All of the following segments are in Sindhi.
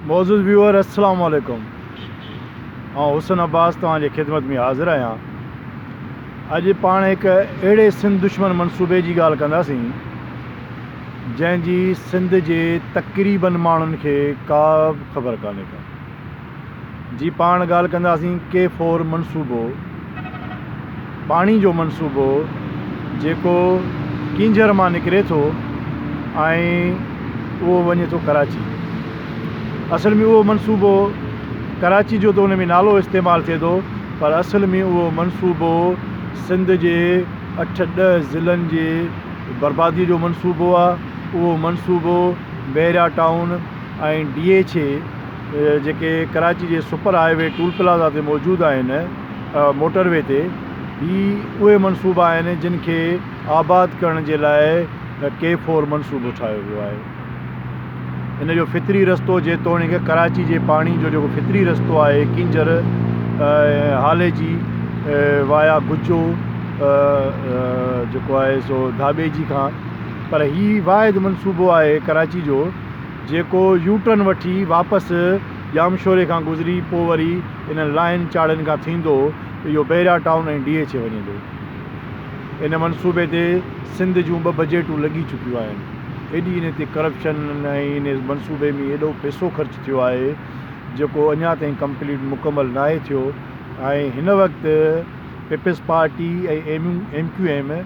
معزز ويوئر السلام عليڪم آئون حسن عباس توهان جي خدمت ۾ حاضر آهيان اڄ پاڻ هڪ اهڙي سنڌ دشمن منصوبي جي ڳالهه ڪنداسين جنهن جي سنڌ جي تقريبن ماڻهن کي ڪا به خبر ڪانهي ڪا جي پاڻ ڳالهه ڪنداسين ڪي فور منصوبو پاڻي جو منصوبو جيڪو ڪينجهر مان نڪري ٿو ۽ اهو وڃي ٿو ڪراچي اصل ۾ اهو منصوبو ڪراچي جو ته ان ۾ نالو استعمال ٿئي ٿو پر اصل ۾ اهو منصوبو سنڌ جي اٺ ڏهه ضلعن جي بربادي جو منصوبو آهي اهو منصوبو Bahria Town ۽ D H A جيڪي ڪراچي جي super highway toll plaza تي موجود آهن موٽر وي تي هي اهي منصوبا آهن جن کي آباد ڪرڻ جي لاء ڪي فور منصوبو ٺاهيو ويو آهي ان جو فطري رستو جيتوڻيڪ ڪراچي جي پاڻي جو جيڪو فطري رستو آهي ڪينجهر هالي جي وايا گجو جيڪو آهي سو ڌاٻي جي کان پر هي واحد منصوبو آهي ڪراچي جو جيڪو يو ٽرن وٺي واپس ڄامشوري کان گذري پوء وري انهن لاهين چاڙهين کان ٿيندو اهو Bahria Town ۽ D H A وڃيندو. ان منصوبي تي سنڌ جون ٻه بجيٽون لڳي چڪيون آهن. ايڏي انهي تي ڪرپشن ۽ انهي منصوبي ۾ ايڏو پئسو خرچ ٿيو آهي جيڪو اڃا تائين ڪمپليٽ مڪمل ناهي ٿيو ۽ هن وقت people's party ۽ M Q M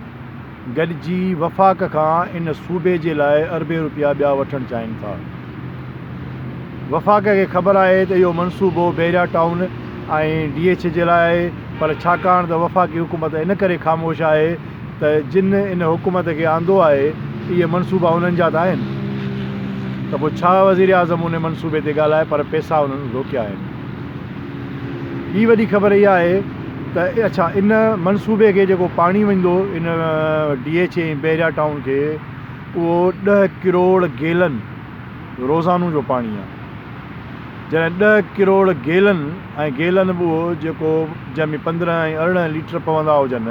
گڏجي وفاق کان ان صوبي جي لاء اربين روپيا ٻيا وٺڻ چاهين ٿا. وفاق کي خبر آهي ته اهو منصوبو Bahria Town ۽ D H A جي لاء آهي پر ڇاڪاڻ ته وفاقي حڪومت ان ڪري خاموش آهي ته جن ان حڪومت کي آندو آهي اهي منصوبا انهن جا ته آهن ته پوء ڇا وزيراعظم ان منصوبي تي ڳالهائي پر پيسا انهن روڪيا آهن. ٻي وڏي خبر اها آهي ته اڇا ان منصوبي کي جيڪو پاڻي وڃندو ان D H A ۽ Bahria Town کي اهو ڏهه ڪروڙ گيلن روزانو جو پاڻي آهي جڏهن ڏهه ڪروڙ گيلن ۽ گيلن به اهو جيڪو جنهن ۾ پندرهن ۽ ارڙهن ليٽر پوندا هجن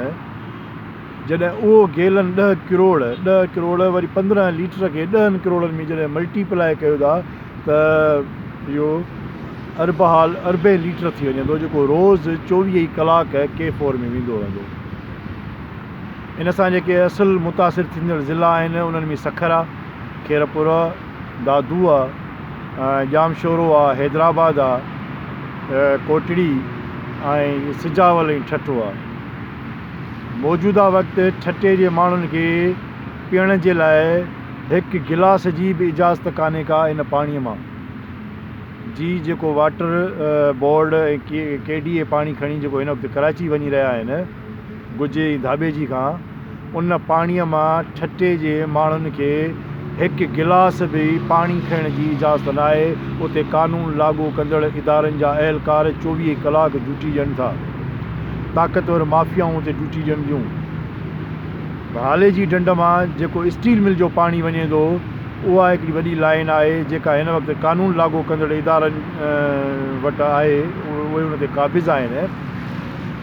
جڏهن اهو گيلن ڏهه ڪروڙ، ڏهه ڪروڙ وري پندرهن ليٽر کي ڏهن ڪروڙن ۾ جڏهن ملٽي پلائي ڪيو ٿا ته اهو اربحال اربين ليٽر ٿي وڃي ٿو جيڪو روز چوويهه ئي ڪلاڪ ڪي فور ۾ ويندو رهندو. ان سان جيڪي اصل متاثر ٿيندڙ ضلع آهن انهن ۾ سکرا، خيرپور، دادو، ڄامشورو، حيدرآباد، ڪوٽڙي ۽ سجاول ۽ ٺٽو. موجوده وقت ٺٽي جي ماڻهن کي پيئڻ جي لاء هڪ گلاس جي به اجازت ڪانهي ڪا ان پاڻي مان جي جيڪو water board ۽ K D A پاڻي کڻي جيڪو هن وقت ڪراچي وڃي رهيا آهن گجي ۽ ڌاٻيجي کان ان پاڻي مان ٺٽي جي ماڻهن کي هڪ گلاس به پاڻي کڻڻ جي اجازت ناهي اتي قانون لاڳو ڪندڙ ادارن جا اهلڪار چوويهه ڪلاڪ ڊيوٽي ڏين ٿا طاقتور مافيائون اتي ڊيوٽي ڏينديون. ڀالي جي ڍنڍ مان جيڪو اسٽيل مل جو پاڻي وڃي ٿو، اها هڪڙي وڏي لائين آهي، جيڪا هن وقت قانون لاڳو ڪندڙ ادارن وٽ آهي، اهي ان تي قابض آهن.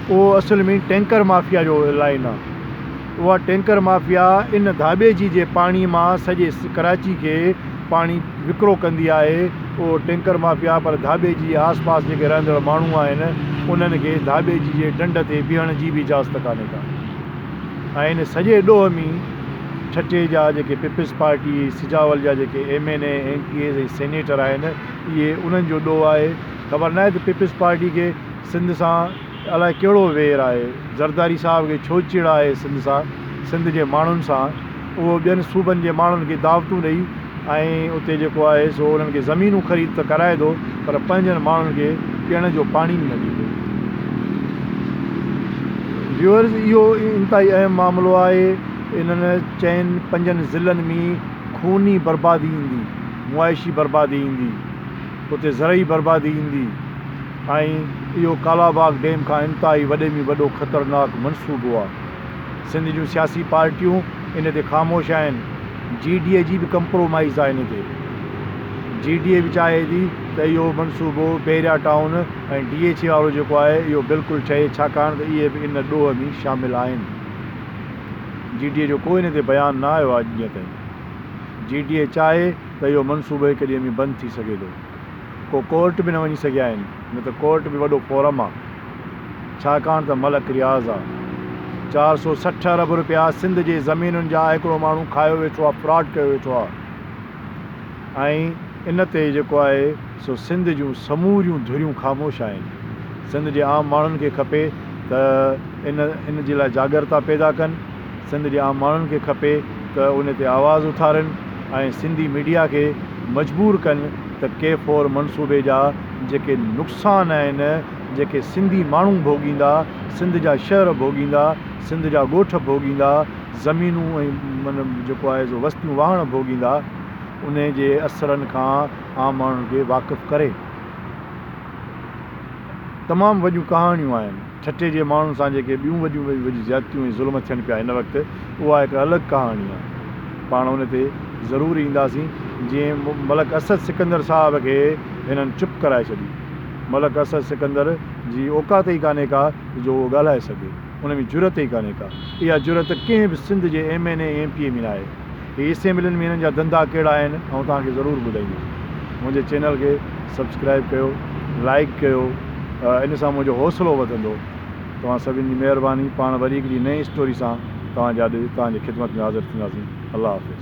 اهو اصل ۾ ٽينڪر مافيا جو لائين آهي. اها ٽينڪر مافيا ان ڌاٻيجي جي پاڻي مان سڄي ڪراچي کي پاڻي وڪرو ڪندي آهي اهو ٽينڪر مافيا پر ڌاٻي جي آس پاس جيڪي رهندڙ ماڻهو آهن انهن کي ڌاٻي جي جي ڊنڊ تي بيهڻ جي به اجازت ڪانهي ڪا ۽ ان سڄي ڏوهه ۾ ٺٽي جا جيڪي پيپلز پارٽي سجاول جا جيڪي M N A M P As ۽ senator آهن اهي انهن جو ڏوهه آهي خبر ناهي ته پيپلز پارٽي کي سنڌ سان الاء ڪهڙو وير آهي زرداري صاحب کي ڇو چڙ آهي سنڌ سان سنڌ جي ماڻهن سان اهو ٻين صوبن جي ماڻهن کي دعوتون ڏئي ۽ اتي جيڪو آهي سو انهن کي زمينون خريد ته ڪرائي ٿو پر پنهنجن ماڻهن کي پيئڻ جو پاڻي به نه ڏيندو. ويورز اهو انتهائي اهم معاملو آهي انهن چئن پنجن ضلعن ۾ خوني بربادي ايندي معاشي بربادي ايندي اتي زرعي بربادي ايندي. ۽ اهو ڪالاباغ ڊيم کان انتهائي وڏي ۾ وڏو خطرناڪ منصوبو آهي. سنڌ جون سياسي پارٽيون ان تي خاموش آهن، جي ڊي اي جي به ڪمپرومائيز آهي ان تي. جي ڊي اي به چاهي ٿي ته اهو منصوبو Bahria Town ۽ D H A وارو جيڪو آهي اهو بلڪل ٺهي ڇاڪاڻ ته اهي به ان ڏوهه ۾ شامل آهن. جي ڊي اي جو ڪو ان تي بيان نه آيو آهي اڄ ڏينهن تائين. جي ڊي اي چاهي ته اهو منصوبو هڪ ڏينهن ۾ بند ٿي سگهي ٿو. ڪو ڪورٽ به نه وڃي سگهيا آهن نه ته ڪورٽ به وڏو فورم آ ڇاڪاڻ ته ملڪ رياض آ چار سو سٺ ارب روپيا سنڌ جي زمينن جا هڪڙو ماڻهو کايو ويٺو آ فراڊ ڪيو ويٺو آ ۽ ان تي جيڪو آهي سو سنڌ جون سموريون ڌريون خاموش آهن سنڌ جي عام ماڻهن کي کپي ته ان ان جي لاء جاڳرتا پيدا ڪن. سنڌ جي عام ماڻهن کي کپي ته ان تي آواز اٿارين ۽ سنڌي ميڊيا کي مجبور ڪن ته ڪي فور منصوبي جا جيڪي نقصان آهن جيڪي سنڌي ماڻهو ڀوڳيندا سنڌ جا شهر ڀوڳيندا سنڌ جا ڳوٺ ڀوڳيندا زمينون ۽ جيڪو آهي سو وستيون واهڻ ڀوڳيندا ان جي اثرن کان عام ماڻهن کي واقف ڪري تمام وڏيون ڪهاڻيون آهن. ٺٽي جي ماڻهن سان جيڪي ٻيون وڏيون ۾ به وڏيون زيادتيون ۽ ظلم ٿين پيا هن وقت اها هڪ الڳ ڪهاڻي آهي پاڻ ان تي ضرور اينداسين جي ملڪ اسد سڪندر صاحب کي هنن چپ ڪرائي ڇڏي ملڪ اسد سڪندر جي اوقات ئي ڪانهي ڪا جو اهو ڳالهائي سگهي ان ۾ جرئت ئي ڪانهي ڪا اها جرئت ڪنهن به سنڌ جي M N A M P A ۾ ناهي. هي اسيمبلين ۾ هنن جا ڌنڌا ڪهڙا آهن آئون توهان کي ضرور ٻڌائيندس منهنجي چينل کي سبسڪرائب ڪيو لائڪ ڪيو ان سان منهنجو حوصلو وڌندو توهان سڀن جي مهرباني پاڻ وري هڪ ڏينهن نئين اسٽوري سان توهان جي آڏو توهان جي خدمت ۾ حاضر ٿينداسين الله حافظ.